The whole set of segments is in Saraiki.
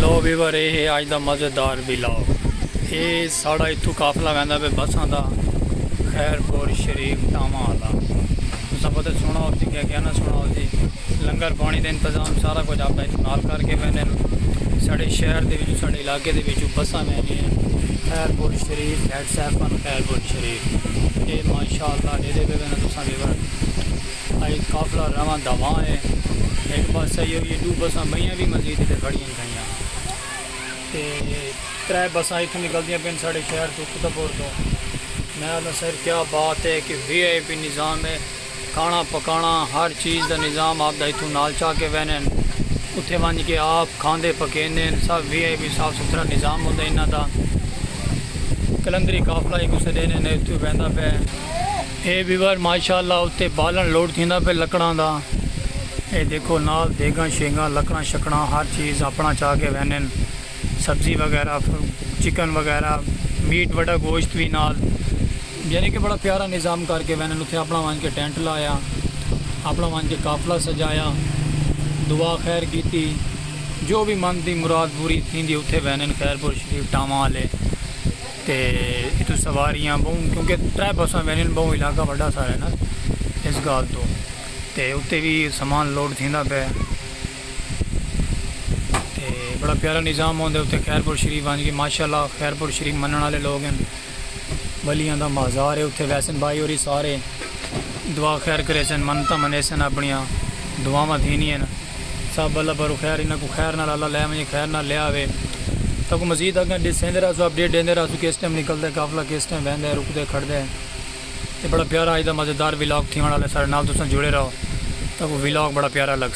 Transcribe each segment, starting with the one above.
لو ویور اے ہے آج دا مزیدار ولاگ۔ اے ساڑا اتھو قافلہ ویندا پے بساں دا خیر پور شریف ٹاواں آلا۔ تساں پتہ سونا ہوسی کیا کیا نہ سونا ہوسی۔ لنگر پانی دے انتظام سارا کچھ آپا اتھو نال کر کے ویندے ہن۔ ساڑے شہر دے وچوں ساڑے علاقے دے وچوں بساں ویندی ہن۔ خیر پور شریف ہیڈ سیفن خیر پور شریف۔ اے ماشاءاللہ ڈیدے پے ویندے تساں ویور۔ اے قافلہ رواں دواں اے۔ ہک بس آئی ہوئی اے۔ ڈو بساں بئیاں وی مزید اتھے کھڑیاں تھئیاں۔ تے ترے بساں اتھوں نکلدیاں پئن ساڈے شہر توں فتح پور توں۔ میں آکھداں سر کیا بات اے کہ وی آئی پی نظام اے۔ کھانا پکانا ہر چیز دا نظام آپ دا اتھوں نال چا کے ویندے ہن۔ اتھے ونج کے آپ کھاندے پکیندے ہن۔ سب وی آئی پی صاف ستھرا نظام ہوندا انہاں دا۔ قلندری قافلہ ہک اسے ڈینے نے اتھوں ویندا پئے۔ اے ویور ماشاء اللہ اتے بالن لوڈ تھیندا پئے لکڑاں دا اے دیکھو نال دیگاں شیگاں لکڑاں شکڑاں ہر چیز اپنا چا کے وینن سبزی وغیرہ چکن وغیرہ میٹ وڈا گوشت وی نال یعنی کہ بڑا پیارا نظام کر کے وینن اتھے اپنا وانج کے ٹینٹ لایا اپنا وانج کے قافلہ سجایا دعا خیر کیتی جو بھی من دی مراد پوری تھیندی اتھے وینن خیرپور شریف ٹاواں والے تے اتھوں سواریاں بہوں کیونکہ ترے بساں وینن بہوں علاقہ وڈا سارا ہے نا اس گال تو تے اتے بھی سامان لوڈ تھیندا پہ تے بڑا پیارا نظام ہوندے اتے خیرپور شریف آن کے ماشاءاللہ خیرپور شریف منن والے لوگ ہیں بلیاں دا مازار ہے اتے ویسن بھائی اور سارے دعا خیر گھریسن، منتاں منیسن، اپنڑیاں دعاواں تھینین۔ سب اللہ پاروں خیر انہاں کوں خیر نال اللہ لے ونجے، خیر نال لے آوے۔ تہاکوں مزید اگاں ڈسیندے رہسوں، اپڈیٹ ڈیندے رہسوں کس ٹائم نکلدے، قافلہ کس ٹائم ویندے، رکدے، کھڑدے۔ تے بڑا پیارا اج دا مزیدار ولاگ تھیونڑ آلا ہے، ساڈے نال تساں جڑے رہو، تہاکوں ولاگ بڑا پیارا لگسے۔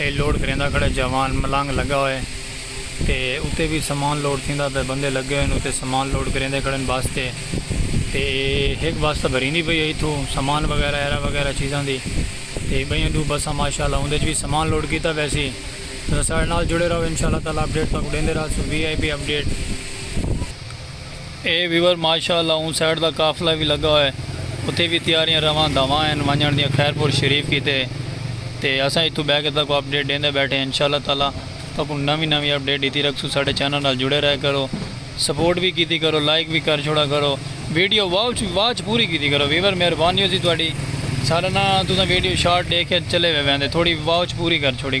اے لوڈ کریندا کھڑے جاوان ملانگ لگا ہوئے تے اتے وی سامان لوڈ تھیندا پئے بندے لگے ہوئن اتے سامان لوڈ کریندے کھڑن بس تے تے ہک بس تاں بھریندی پئی اے ایتھو سامان وغیرہ ایرا وغیرہ چیزاں دی تے بئیاں ڈو بساں ماشاءاللہ اوندے اچ وی سامان لوڈ کیتا ویسی تساں ساڈے نال جڑے راہو انشاءاللہ تعالی اپڈیٹ تہاکوں ڈیندے راہسوں وی آئی پی اپڈیٹ۔ اے ویور ماشاء اللہ اوں سائیڈ دا قافلہ وی لگا ہوئے اتھے وی تیاریاں رواں دھواں ہن ونجنڑ دیاں خیرپور شریف کیتے تے اساں اتھوں بہ کے تہاکوں اپڈیٹ ڈیندے بیٹھے انشاء اللہ تعالی تہاکوں نویں نویں اپڈیٹ ڈتی رکھسوں ساڈے چینل نال جڑے رہے کرو سپورٹ وی کیتی کرو لائک وی کر چھوڑا کرو ویڈیو واچ پوری کیتی کرو ویور مہربانی ہوسی تہاڈی ساڈا ناں تساں ویڈیو شارٹ ڈیکھ کے چلے ویندے تھوڑی واچ پوری کر چھوڑی